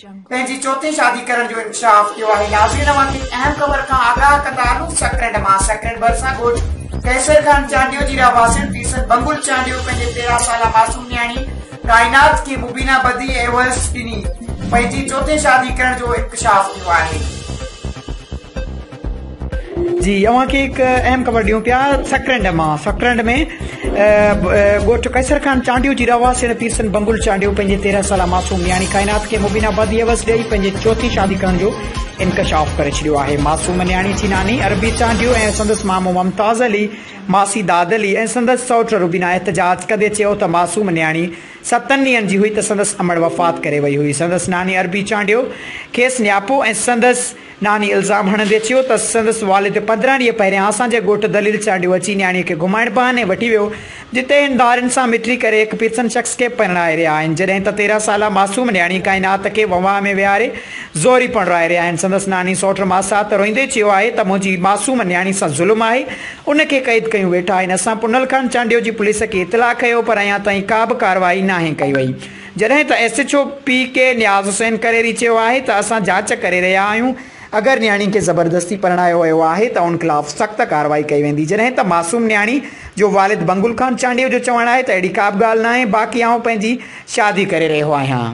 پنهنجي چوٿين شادي ڪرڻ جو انڪشاف ٿيو آهي ناظرين اوهان کي اهم خبر کان آگاهه ڪندا آهيون سڪرنڊ مان سڪرنڊ ڀرسان ڳوٺ قيصر خان چانڊيو جي رهواسين پيرسن بنگل چانڊيو پنهنجي تيرهن سالا معصوم نياڻي ڪائنات کي مبينا بدي ۽ اوهس ڏني پنهنجي چوٿين شادي ڪرڻ جو انڪشاف ٿيو آهي جي اوهان کي هڪ اهم خبر ڏيون پيا سڪرنڊ مان سڪرنڊ ۾ ڳوٺ قيصر خان چانڊيو جي رهواسين پيرسن بنگل چانڊيو پنهنجي تيرهن سالا معصوم نياڻي ڪائنات کي مبين آبادي عوض ڏيئي پنهنجي چوٿين شادي ڪرڻ جو انڪشاف ڪري ڇڏيو آهي معصوم نياڻي جي ناني عربي چانڊيو ۽ سندس مامو ممتاز علي ماسي داد علي ۽ سندس سوٽ روبينا احتجاج ڪندي چيو ته معصوم نياڻي ستن ڏينهن جي هئي ته سندس امڙ وفات ڪري وئي هئي سندس ناني عربي چانڊيو کيس نياپو ۽ سندس ناني الزام هڻندي چيو ته سندس والد پندرهن ڏينهن پهريان اسان جي ڳوٺ دليل چانڊيو اچي نياڻي کي گهمائڻ بهاني وٺي ويو جتي هن ڌارين سان مٽي ڪري هڪ پيرسن شخص کي پرڻائي رهيا آهن جڏهن ته تيرهن سالا معصوم نياڻي ڪائنات کي وهنواه ۾ ويهاري زوري پرڻائي رهيا آهن سندس ناني سئوٽ ماسات روئندي چيو آهي ته منهنجي معصوم نياڻي سان ظلم آهي ان کي قيد ڪيون ويٺا آهن اسان پنهل خان چانڊيو جي پوليس کي اطلاع ڪيو پر اڃا تائين ڪا به ڪارروائي ناهي ڪئي وئي جڏهن ته S H O P K Niaz Hussain Kareri چيو آهي ته اسان جاچ ڪري رهيا آهيون، اگر نياڻي کي زبردستي پرڻايو ويو آهي ته ان خلاف سخت ڪارروائي ڪئي ويندي جڏهن ته معصوم نياڻي جو والد بنگل خان چانڊيو جو چوڻ آهي ته اهڙي ڪابه ڳالهه ناهي باقي آئون پنهنجي شادي ڪري رهيو آهيان.